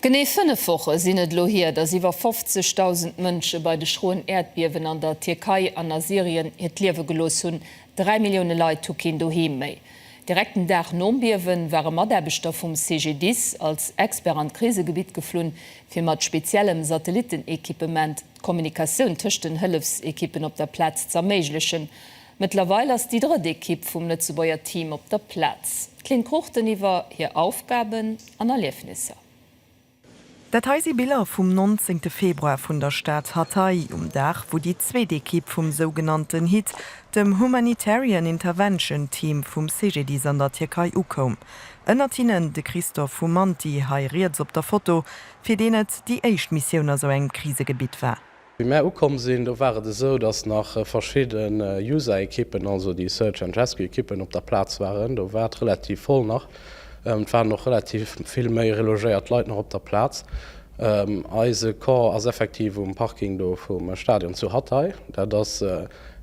Genee fënnef Woche sinn et elo hier, datt iwwer 50.000 Mënsche bei de schroen Äerdbiewen an der Tierkei an a Syrien hiert Liewe gelooss hunn. Dräi Millioune Leit hu keen Doheem méi. Direkt den Dag nom Biewe ware Mataarbechter vum CGDIS als Expert an d'Krisegebitt geflunn, fir mat speziellem Satellittenequipement d'Kommunikatioun tëscht den Hëllefsequippen op der Plaz z'erméiglechen. Mëttlerweil ass déi drëtt Ekipp vum Lëtzebuerger Team op der Plaz. D'Lynn Cruchten iwwer hir Aufgaben an Erliefnisser. Dat hei si Biller vum 19 Februar vun der Stad Hatay, um Dag wou déi zweet Ekipp vum sougenannten hit, dem Humanitarian Intervention Team vum CGDIS an der Tierkei ukoum. Ënnert hinnen de Christophe Humanty, hei riets op der Foto, fir deen et déi éischt Missioun a sou engem Krisegebitt war. Wéi mär ukomm sinn, do war et esou, dass nach verschidden User-Ekippen, also déi Search and Rescue-Ekippen op der Plaz waren. Do war et relativ voll nach. Et waren och relativ vill méi relogéiert Leit nach op der Plaz. Eise Corps ass effektiv um Parking do vum Stadion zu Hatay. Dat ass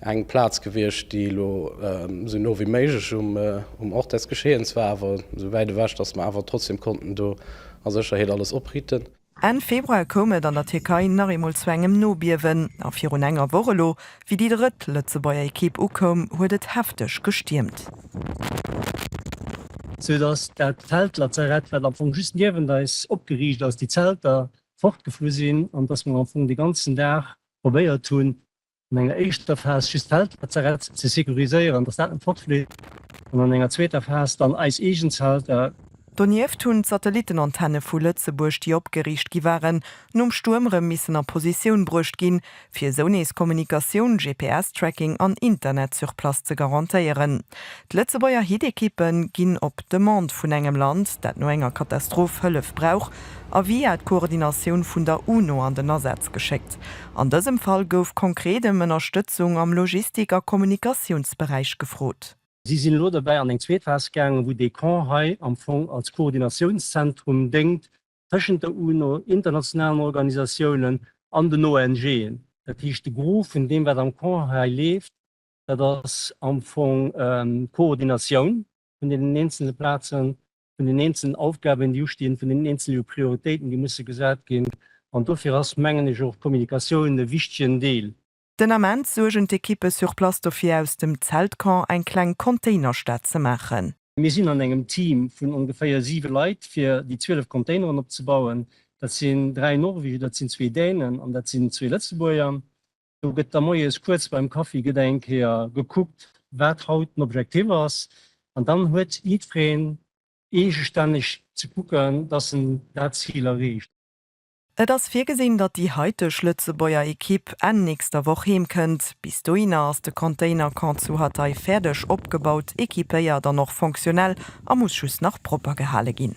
eng Plaz gewiescht, déi elo esou no wéi méiglech um Ort des Geschehens war, awer esou wäit ewech, dass mer awer trotzdem konnten do a Sécherheet alles opritten. Enn Februar koum et an der Tierkei nach eemol zu engem Nobiewen, a virun enger Woch elo, wéi déi drëtt Lëtzebuerger Ekipp ukoum, huet et hefteg gestiermt. Sou dass dat Feldlazarett, wat am Fong just niewent eis opgeriicht ass, déi Zelter fortgeflu sinn an dass mer am Fong de ganzen Dag probéiert hunn, an enger éischter Phas just d'Feldlazarett ze securiséieren, dass dat net fortfleet, an an enger zweeter Phas dann eis eegen Zelter. Donieft hunn d'Satellittenantenne vu Lëtzebuerg, déi opgeriicht gi waren, nom Stuerm erëm missen a Positioun bruecht ginn, fir esou nees Kommunikatioun, GPS-Tracking an Internet sur place ze garantéieren. D'Lëtzebuerger Hit-Ekippe ginn op Demande vun engem Land, dat no enger Katastroph Hëllef brauch, a via d'Koordinatioun vun der UNO an den Asaz geschéckt. An dësem Fall gouf konkret ëm Ënnerstëtzung am Logistik a Kommunikatiounsberäich gefrot. Si sinn elo derbäi an eng zweet Phas gaangen, wou dee Camp hei am Fong als Koordinatiounszentrum déngt tëschent der UNO, internationalen Organisatiounen an den ONGen. Dat heescht, de Gros vun deem, wat am Camp hei leeft, dat ass am Fong d'Koordinatioun vun deenen eenzele Plazen vun den eenzelen Aufgaben, déi ustinn, vun den eenzele Prioritéiten, déi musse gesat ginn. An dofir ass, mengen ech, och d'Kommunikatioun e wichtegen Deel. Den Ament suergen d'Ekippe sur place dofir, aus dem Zeltcamp eng kleng Containerstad ze maachen. Mir sinn an engem Team vun ongeféier siwe Leit, fir déi 12 Containeren opzebauen. Dat sinn dräi Norweger, dat sinn zwee Dänen an dat sinn zwee Lëtzebuerger. Do gëtt da moies kuerz beim Kaffi gëtt eng Kéier gekuckt, wat haut den Objektiv ass. An dann huet jiddwereen eegestänneg ze kucken, dass en dat Zil erreecht. Et ass virgesinn, datt déi haiteg Lëtzebuerger Ekipp Enn nächster Woch heem kënnt. Bis dohinner ass de Container-Camp zu Hatay fäerdeg opgebaut, equipéiert an och fonctionnel a muss just nach propper gehale ginn.